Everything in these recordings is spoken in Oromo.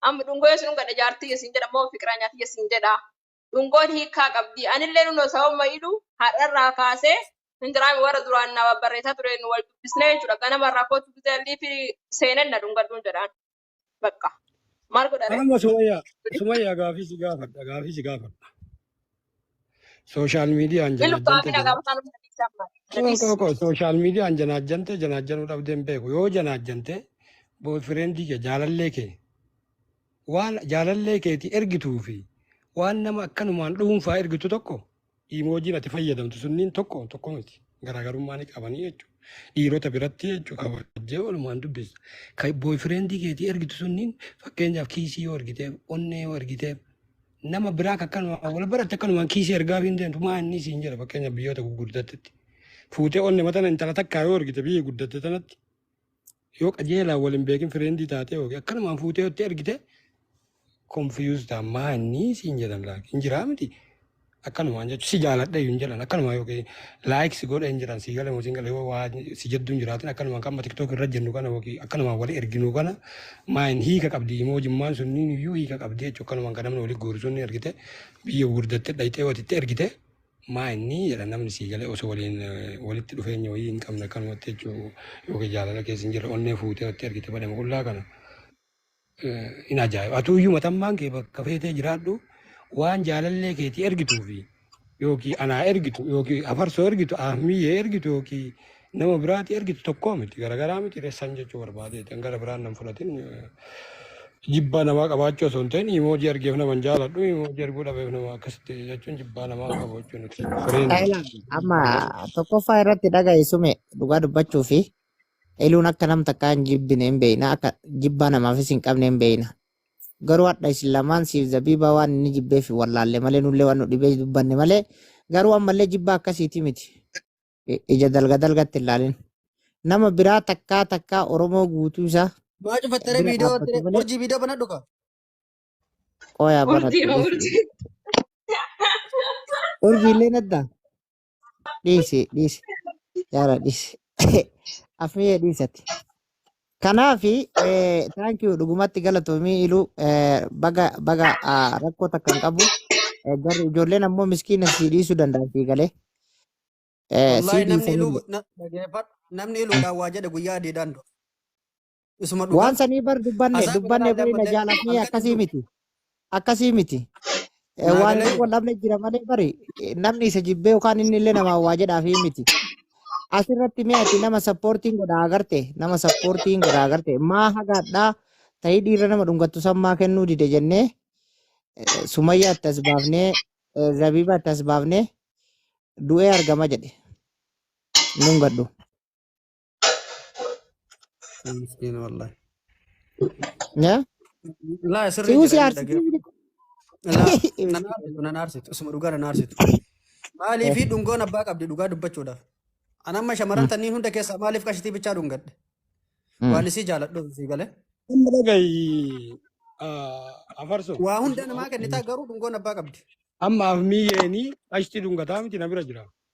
Amma dhungoo yoo isin gadha jaartii yoo isin jedha moo fiqiraa nyaatii yoo isin jedha. Dhungoon hiikaa qabdi. Anillee nunoo sababuma iduu har'arraa kaasee hin jiraame warra duraan na barreessaa ture nu wal dubbisnee jechuudha. Ganama irraa kootu gizee liifi seeneen na dhungadhuun jedhaan. Bakka. Maal godhare? Amma Sumayyaa, Sumayyaa gaafii si gaafadha, gaafii si gaafadha. Sooshaal miidiyaan Ilu janaajjante kaamina jana. gaafa sana sana ibsaa mara. Koo Dadis. koo koo sooshaal miidiyaan janaajjante janaajjanuu dhabdee hin beeku. Yoo janaajjante boyfriendii kee jaalallee kee waan jaalallee keetii ergituu fi waan nama akkanumaan dhuunfaa ergitu tokko iimoojiin ati fayyadamtu sunniin tokko tokko miti. Garaagarummaa ni qabanii jechuudha. Dhiirota biratti jechuudha kabajjee walumaan dubbisa. Kan boyfriendii keetii ergitu sunniin fakkeenyaaf kiisii yoo ergiteef, onnee yoo ergiteef, nama biraa akka akkanumaan wal baratte akkanumaan kiisii ergaafii hin deemtu maa inni siin jedha fakkeenya biyyoota gurguddattetti. Fuutee onne matana intala takkaa yoo ergite biyya guddatte tanatti yoo qajeelaa wal hin beekin fireendii taatee yookiin akkanumaan fuutee yotti ergite konfiyuus ta'a maa inni siin jedhan laaki hin jiraa miti akkanumaan jechuun si jaaladha hin jedhan akkanumaan yookiin like si godhe hin jiran si gale mosin gale wa si jaddu hin jiraatin akkanuma kan tiktok irra jennu kana waki akkanuma wali erginu kana maayin hiika qabdi imoo jimmaan sunniin iyyuu hiika qabdi jechu akkanuma kan namni wali guuru sunni ergite biyya gurdatte dhayxee watitti ergite maayinni jedha namni si gale osoo waliin walitti dhufeenya wayii hin qabne akkanumatti jechuu yookiin jaalala keessa hin jirre onnee fuutee watti ergite badhama qullaa kana hin ajaa'iba. Atuuyyuu matammaan kee bakka feetee jiraadhu waan jaalallee keetii ergituu fi yookiin anaa ergitu yookiin afarsoo ergitu ahmiyyee ergitu yookiin nama biraati ergitu tokkoo miti garagaraa miti ressan jechuu barbaadee kan gara biraan nan fudhatin jibbaa namaa qabaachuu osoo hin ta'in imoojii argeef nama hin jaaladhu imoojii arguu dhabeef nama akkasitti jechuun jibbaa namaa qabu jechuun miti. Fireen Taayilaa amma tokkoffaa irratti dhaga'i sume dhugaa dubbachuu fi Heluun akka nam takkaa hin jibbine hin beeyna, akka jibbaa namaafis hin qabne hin beeyna. Garuu hadha isin lamaan siif zabiibaa waan inni jibbeef hin wallaalle malee nullee waan nu dhibee dubbanne malee garuu ammallee jibbaa akkasiiti miti. Ija dalga dalgatti hin laalin. Nama biraa takkaa takkaa Oromoo guutuu isaa Maa cufattare bira viidiyoo dhaabbatu irratti malee urjii viidiyoo banadhu ka. qooyaa Urjii banattu ma jechuudha. urjii. Urjiillee naddaa? dhiisi dhiisi yaara dhiisi afniyee dhiisati kanaafi thank you dhugumatti galatoomii iluu eh, baga baga ah, rakkoo takka hin qabu Eh, garuu ijoolleen ammoo miskiina sii dhiisuu danda'an sii galee Eh, sii Wallaahi namni dhiisanillee iluu na- dhageeffadhu namni iluudhaan waa jedhe guyyaa adiidhaan du'a. isuma dhugaa Waan sanii bar dubbanne hasaa dubbanne garagaraa bari na illee jaalatnee halkan akkasii jiru miti. Akkasii miti. Eh, naa Waan galee inni wal dhabne jira malee bari eh, namni isa jibbee yookaan inni illee namaa waa jedhaafii miti. Asirratti mee ati nama sappoortiin godhaa agarte nama sappoortiin godhaa agarte maa hagaadhaa ta'ii dhiirra nama dhungattu san maa kennuu dide jennee eh, sumayyaa itti as baafnee eh, zabiibaa itti as baafnee du'ee argama jedhe nun gadhu. Miskiin wallahi. Yaa Laa si sirrii usi jedha inni dhagee. aarsitii Laa na naarsitu na naarsitu isuma dhugaa na naarsitu. Maalii fi dhungoon abbaa qabdi dhugaa dubbachuudhaaf. An amma shamarran tanniin hunda keessaa maaliif qashitii bichaa dhungadhe? Waan isii jaaladhu isii galee. Amma dhagayi afarso Waa hunda namaa kennitaa garuu dhungoon abbaa qabdi. amma afmiyeeni qashti dhungataa miti na bira jira.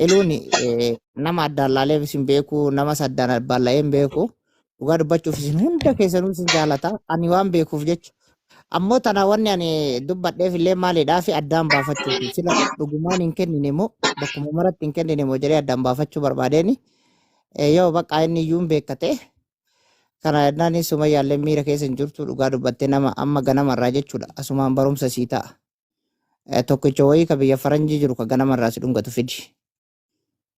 Iluun eh, nama addaan laaleef isin beeku, namas addaan abbaan laa'ee hin beeku. Dhugaa dubbachuuf isin hunda keessanuu isin jaalata. Ani waan beekuuf jecha. Ammoo tana wanni ani dubbadheef illee maalidhaa fi addaan baafachuuti. Sila dhugumaan hin kennine moo bakkuma maratti hin kennine moo jedhee addaan baafachuu barbaadeeni. Eh, Yoo baqqaa inni iyyuu hin beekkate. Kana jennaan sumayyaallee miira keessa hin jirtu dhugaa dubbattee nama amma ganamarraa jechuudha. Asumaan barumsa sii ta'a. Eh, tokkicha wayii ka biyya faranjii jiru ka ganama irraa si dhungatu fidi.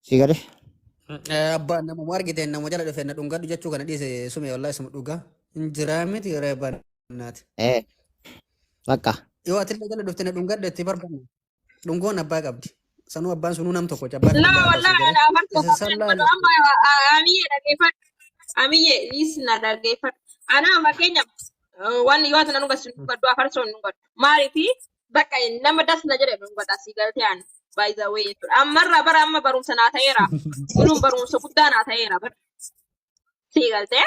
Si gale? Eh, Abbaan namuma argiteen nama jala dhufe na dhungadhu jechuu kana dhiise sume wallahi suma dhugaa. Hin jiraa miti reebaan naati. Eh, bakka. Yoo atillee jala dhufte na dhungadhu itti barbaanne. Dhungoon abbaa qabdi. Sanuu abbaan sunuu nam tokko abbaan Laa illee abbaa ishee wallahi garee. dhaabatu Isa qabdan sallaa godhu amma a- amiyye dhaggeeffadhu amiyye is na dhaggeeffadhu ana amma keenya eh, waan yoo ati na dhugas nu gaddu afarsoon nu gaddu maaliifi bakka nama das na jedhe nu gadda si galtee ani by the way jechuudha ammarraa bara amma barumsa naa ta'eera kunuun barumsa guddaa naa ta'eera bara si galtee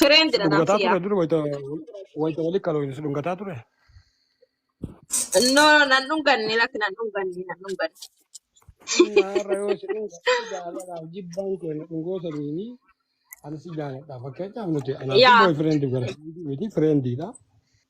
Trend Si dha dhungataa nafsi ture yaa. dura wayita wayita wali kalooyne si dhungataa ture. No nan dhunganne lakki nan dhunganne nan dhunganne. Amma har'a yoo si dhungadhe jaalalaaf jibbaan kee na dhungoo saniini ani si jaaladha. Fakkeenyaaf nuti anaa fi Yaa. booy fireendi gara miti fireendiidha.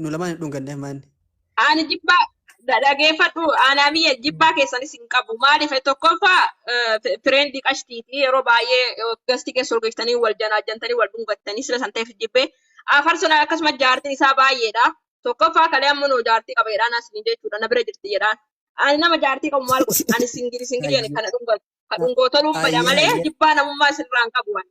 nu lamaan hin dhunganneef maanni. Ani jibbaa dha- dhageeffadhu aanaa biyya jibbaa keessanis hin qabu. Maaliif tokkoffaa fireendi qashtiiti yeroo baay'ee gasti keessa ol geessitanii wal janaajjantanii wal dhungattanii sila san ta'eef jibbee. Afar sana akkasuma jaartiin isaa baay'eedha. Tokkoffaa kalee amma noo jaartii qaba jedhaan asini jechuudha na bira jirti jedhaan. Ani nama jaartii qabu maal godhu ani singili singili ani kana dhungatu. Ka dhungoo toluun bada malee jibbaa namummaa sirraan qabu ani.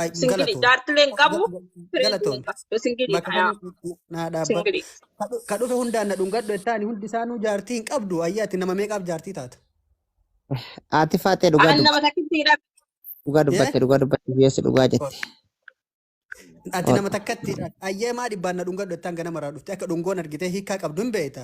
Ay, Singili galatoom. jaartilee hin qabu, Ga- ga- firees hin Galatoom. qabu. Singili Bakka fayaa. kana naa dhaabbadhu. Singili. Ka dhu- ka dhufe hundaan na dhungadhu jettaani hundi isaanuu jaartii hin qabdu. Ayyaa ati nama meeqaaf jaartii taata? Ati faatee dhugaa Aan nama dubbatte. takkitti hidha. Dhugaa Yee? dubbatte. Dhugaa dubbatte. Biyyoossi dhugaa Ol. jette. Ati Ol. nama takkatti ayyee maa dhibbaan na dhungadhu jettaan ganama irraa dhufte akka dhungoon argitee hiikaa qabdu hin beekta.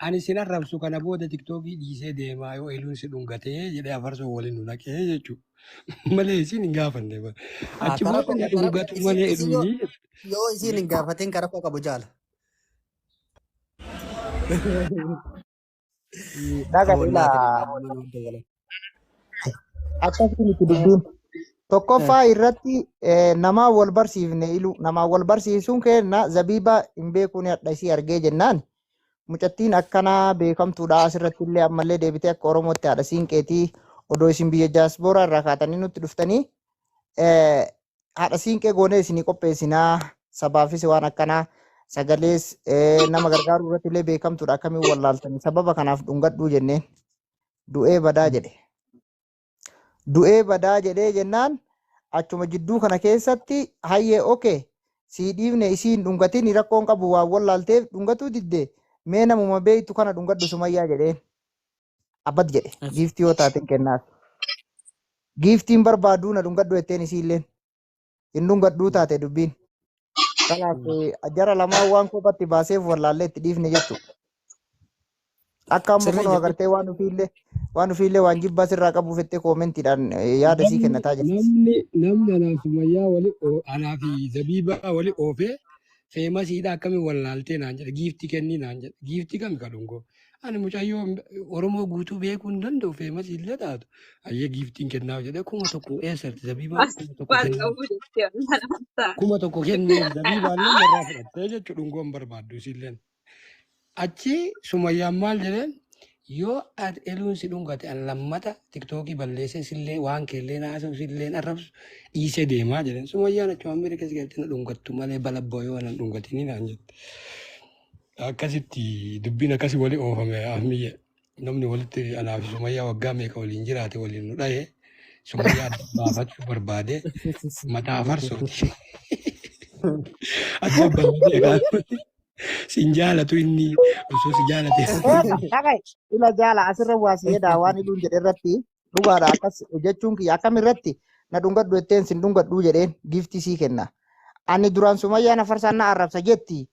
Ani sin arrabsu kana booda tiktookii dhiisee deemaa yoo eluun si dhungatee jedhee afarsoo waliin nu naqee jechuudha. Malee isin hin gaafanne bara. Haa Achi booda karafa na karafa dhungatu isin malee isin yoo eluunii. yoo isin hin gaafatin karafa qabu jaala. Dhaga Aboon dhila. maati nama hunda wala. Akkasii miti dubbiin. Tokkoffaa irratti eh, namaa wal barsiifne iluu namaa wal barsiisuun keenna zabiiba hin beekuun hadha isii argee jennaan mucattiin akkanaa beekamtuudha asirratti illee ammallee deebitee akka oromootti haadha siinqeetii odoo isin biyya jaaspooraa irraa kaatanii nutti dhuftanii eh, haadha siinqee goonee isinii qopheessinaa sabaafis waan akkanaa sagalees eh, nama gargaaruu irratti illee beekamtuudha akkamiin wallaaltanii sababa kanaaf dhungadhuu jenneen. du'ee badaa jedhe. Du'ee badaa jedhee jennaan achuma jidduu kana keessatti hayyee oke sii dhiifne isii hin dhungatiin rakkoon qabu waan wallaalteef dhungatuu didde mee namuma beektu kana dhungadhu sumayyaa jedheen. Abbat jedhe giiftii yoo taateen kennaaf. Giiftiin barbaaduu na dhungadhu jetteen isiilleen. hin dhungadhuu taate dubbiin. Kanaaf eh, jara lamaan waan kophatti baaseef wallaallee itti dhiifne jechuudha. Akka amma Sirrii kunoo jechuudha. agartee waan ofiillee waan ofiillee waan jibbaa sirraa qabu fettee koomentiidhaan eh, yaada sii Namni kennataa jirti. namni namni anaa fi Sumayyaa wali oo- anaa fi Zabiibaa wali oofee feemasiidha akkamiin wallaaltee naan jedhe giiftii kennii naan jedhe giiftii kami kadhungoo Ani mucayyoo Oromoo guutuu beekuu hin danda'u feemas illee taatu. Ayyee giiftiin kennaaf jedhee kuma tokko eessatti zabiibaan As kuma tokko waan kennaa qabu jettee laata. kuma tokko kenneef zabiibaan illee narraa fudhattee jechuudha dhungoon barbaaddu isilleen. Achi sumayyaan maal jedheen yoo ati eluun si dhungate an lammata tiktookii balleessee sillee waan keellee naasa'u silleen arrabsu dhiisee deemaa jedheen. Sumayyaan achumaan bira keessa galtee na dhungattu malee balabba yoo na dhungatinii naan jette. Akkasitti dubbiin akkasi wali oofame ahmiyye namni walitti anaa fi sumayyaa waggaa meeqa waliin jiraate waliin nu dhaye sumayyaa adda baafachuu barbaade mataa farsooti adda baafate egaa sin jaalatu inni osoo si jaalate Eeqa, dhaga'i. Ila jaala asirra waa si jedhaa waan hidhuun jedhe irratti dhugaadha akkas jechuun kiyya akkam irratti na dhungadhu jetteen sin dhungadhuu jedheen giiftii sii kenna. Ani duraan sumayyaa na farsaan na arrabsa jetti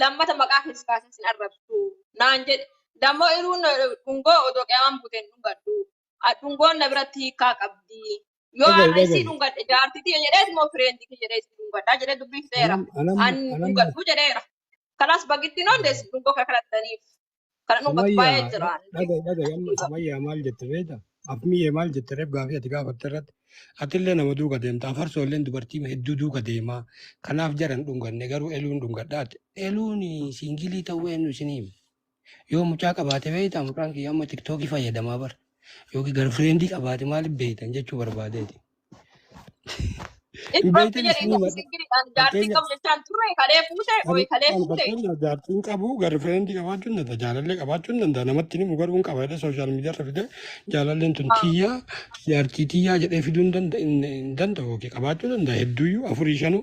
lammata maqaa kee si kaasan sin arrabsu naan jedhe dammoo iruun dhungoo odoo qiyaamaan buuteen dhungadhu dhungoon na biratti hiikaa qabdi yoo Dhaga'i, har'a isii dhaga'i. dhungadhe jaartitii jedhees moo fireendi kee jedhee isii dhungadhaa jedhee dubbii fixeera Anam- anam- an anam- dhungadhu jedheera kanaas bagitti noon deessi dhungoo kana kadhattaniif Kana dhugatu Sumayyaa baay'ee dha- jira. dhaga'i dhaga'i amma Sumayyaa maal jette beekta? Afmiyyee maal jette reef gaafii ati gaafatte irratti atillee nama duuka deemta afarsoo illee dubartii hedduu duuka deemaa kanaaf jaran dhunganne garuu eluun dhungadhaate eluun siingilii ta'uu eenyu isinii hime yoo mucaa qabaate beekta mucaan kiyya amma tiktookii fayyadamaa bara yookiin garfireentii qabaate maaliif beektan jechuu barbaadeeti. Hin Hin barti beektan jedhe isinii inni malee singiri an jaartii fakkeenya qabu jechaan turre kalee fuute ani oyi kalee ani fuute fakkeenya jaartiin qabu garfireendi qabaachuun danda'a jaalallee qabaachuun danda'a namatti himu garuu hin qaba jedhee sooshaal miidiyaa irra fidee jaalalleen tun tiyyaa jaartii tiyyaa jedhee fiduu hin danda- hin- hin danda'u yookiin qabaachuu danda'a hedduuyyuu afurii shanuu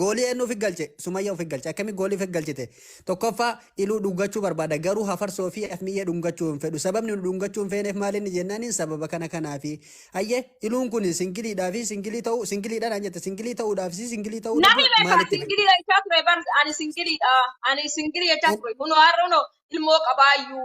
Goolii eenyu ofi galche? Sumayya ofi galche. Akkami goolii ofi galchite? Tokkoffaa iluu dhungachuu barbaada garuu hafarsoo fi afmiyyee dhungachuu hin fedhu. Sababni nu dhungachuu hin feeneef maal inni jennaaniin sababa kana kanaafi. Hayyee iluun kun singiliidhaa fi singilii ta'uu singiliidha naan jette singilii ta'uudhaaf si singilii ta'uu Nami dhabuu beekaa maalitti fedhe? singilii jechaa ture bar ani singiliidha. Ani singilii jechaa An- ture. Kunoo har'a kunoo ilmoo qabaayyuu.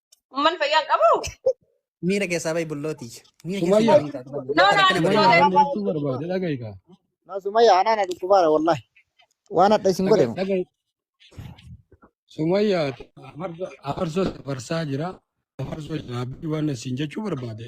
Umman fayyaan qabu? Miira keessaa bahi bullooti. Miira keessaa Sumayya. bahi bullooti. Bulloota No, no, rakkina ani Sumayya bareedaa. Sumayya. gammachuu barbaade dhagahi kaa. Na Sumayya anaa na dhukkubaara wallahi. Waan hadha isin godhe Dhagahi mo. dhagahi. Sumayya afarsa afarsaa jira. Afarsoo jira. Abdii waan isin jechuu barbaade.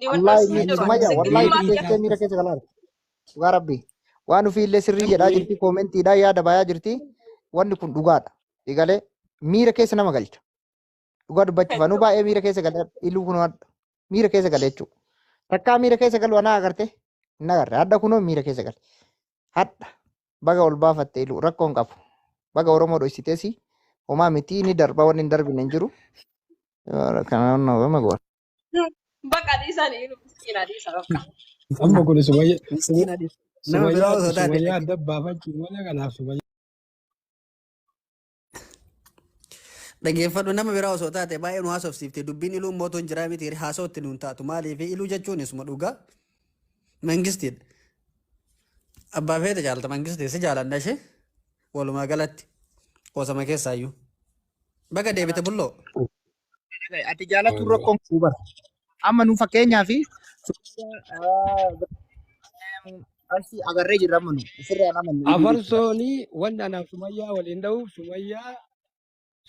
Ni wal wallaahi dhabsiisee Ani jiru. sumaya Sitti wallaahi himaa deebii dubbeessitee miira keessa galaara dhugaa rabbi waan ofii illee sirrii jedhaa Namni jirti koomentiidhaa yaada bayaa jirti wanni kun dhugaadha egalee miira keessa nama galcha dhugaa dubbachuuf anuu jechuudha. baay'ee miira keessa galee iluu kun hadha miira keessa galee jechuudha takkaa miira keessa galu anaa agarte hin agarre hadha kunoo miira keessa gale hadha baga ol baafatte iluu rakkoo hin qabu baga oromoo dhoysiteesi homaa mitii ni darba wanni hin darbine hin jiru kanaan nama goona. Bakka dhiisan inni miskiina dhiisa bakka. Amma kun sumayya miskiina dhiisa. Nama biraa osoo taate sumayyaa adda baafachuu malee kanaaf sumayya. Dhageeffadhu nama biraa osoo taate baay'ee nu haasofsiifte dubbiin iluu mootoon jiraa miti haasawatti nuun taatu maaliif iluu jechuun isuma dhugaa mangistiidha. Abbaa feete jaalta mangistii si jaalanna ishee walumaa galatti qoosama keessaayyuu. Baga deebite bulloo. Dhaga'i, Ati jaalatuun rakkoon qabu bara. Amma nu fakkeenyaa fi asii agarree jirra amma nu ofirraan amannu iyyuu jechuudha. Afarsooni wanni anaaf sumayyaa waliin dha'uuf sumayyaa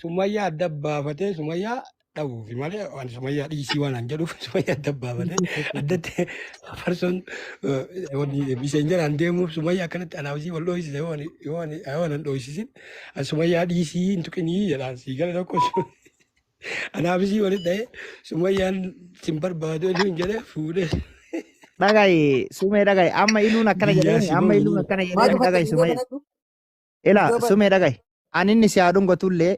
sumayyaa adda baafatee sumayyaa dha'uuf malee waan sumayyaa dhiisii waan an jedhuuf sumayyaa adda baafatee addatti afarsoon eh, wanni miseenjaraan deemuuf sumayyaa akkanatti anaaf isii wal dhoohisiise yoo ani yoo ani yoo ani hin dhoohisisin sumayyaa dhiisii hin tuqinii jedhaan sii gala tokko Anaaf isii walitti ta'ee sumayyaan sin barbaadu eenyu hin jedhee fuudhee Dhaga'i sumee dhaga'i amma iluun akkana biyyaa jedheemi si amma iluun booyinii. akkana Maal jedheemi dhufatte dhaga'i viidiyoo sumee banadhu? ila Viidiyoo ban. sumee dhaga'i ani inni si haa dhungatullee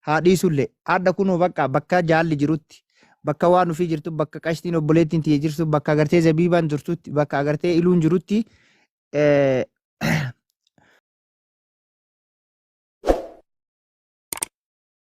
haa dhiisullee adda kunoo bakka bakka jaalli jirutti bakka waan ofii jirtu bakka qashtiin obboleettiin tiyya jirtu bakka agartee zabiibaan jirtutti bakka agartee iluun jirutti eh,